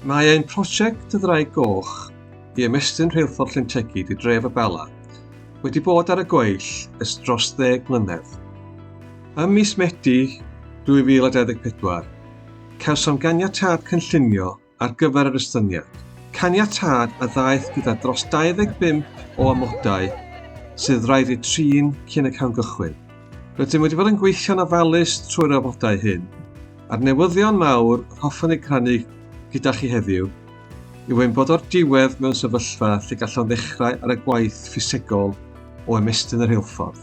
Mae ein prosiect 'Y Ddraig Goch' i ymestyn Rheilffordd Llyn Tegid i dref y Bala wedi bod ar y gweill ers dros ddeg mlynedd. Ym mis Medi 2024, cawsom ganiatâd cynllunio ar gyfer yr estyniad, caniatâd a ddaeth gyda dros 25 o amodau sydd raid eu trin cyn y cawn gychwyn. Rydym wedi bod yn gweithio'n ofalus trwy'r amodau hyn, a'r newyddion mawr yr hoffwn eu crannu gyda chi heddiw yw ein bod o'r diwedd mewn sefyllfa lle gallwn ddechrau ar y gwaith ffisegol o ymestyn y rheilffordd.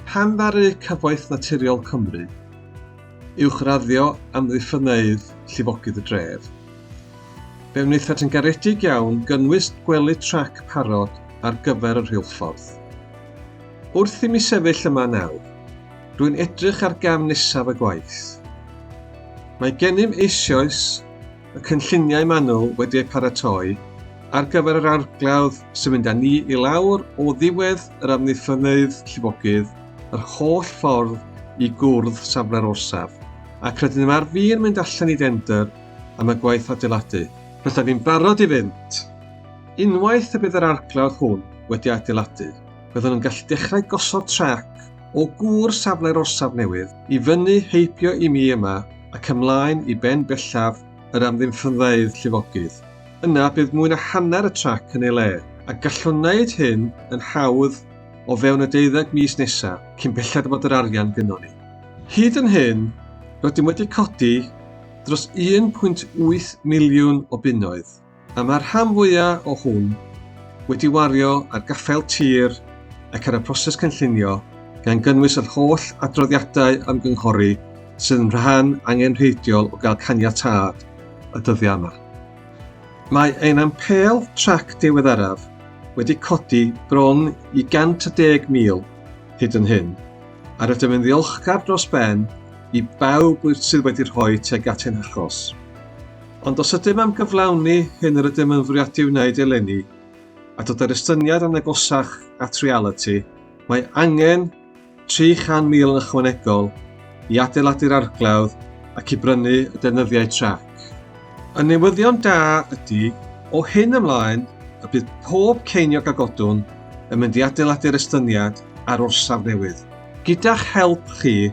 Pan ddaru Cyfoeth Naturiol Cymru uwchraddio amddiffynneydd llifogydd y dref, fe wnaethant yn garedig iawn gynnwys gwely trac parod ar gyfer y rheilffordd. Wrth i mi sefyll yma nawr, rwy'n edrych ar gam nesaf y gwaith. Mae gennym eisioes y cynlluniau manwl wedi eu paratoi ar gyfer yr arglawdd sy'n mynd â ni i lawr o ddiwedd yr amddiffynnydd llifogydd yr holl ffordd i gwrdd safle'r orsaf, ac rydyn nhw ar fin mynd allan i dendr am y gwaith adeiladu. Rydyn ni'n barod i fynd, unwaith y bydd yr arglawdd hwn wedi adeiladu. byddwn yn gallu dechrau gosod trac o gŵr safle'r orsaf newydd i fyny heibio i mi yma ac ymlaen i ben bellaf yr amddiffynfeydd llifogydd. Yna bydd mwy na hanner y trac yn ei le, a gallwn wneud hyn yn hawdd o fewn y deuddeg mis nesa, cyn belled fod yr arian gynnon ni. Hyd yn hyn, rydym wedi codi dros 1.8 miliwn o bunnoedd. A mae'r rhan fwyaf o hwn wedi wario ar gaffael tir ac ar y proses cynllunio, gan gynnwys yr holl adroddiadau ymgynghori sydd yn rhan angenrheidiol o gael caniatâd y dyddiau yma. Mae ein ampêl trac diweddaraf wedi codi bron i 110,000 hyd yn hyn, a rydym yn ddiolchgar dros ben i bawb sydd wedi rhoi tuag at ein hachos. Ond os ydym am gyflawni hyn yr ydym yn fwriadu wneud eleni, a dod â'r estyniad yn agosach at realiti, mae angen 300,000 yn ychwanegol i adeiladu'r arglawdd ac i brynu y deunyddiau trac. Y newyddion da ydy, o hyn ymlaen, y bydd pob ceiniog a godwn yn mynd i adeiladu'r estyniad a'r orsaf newydd. Gyda'ch help chi,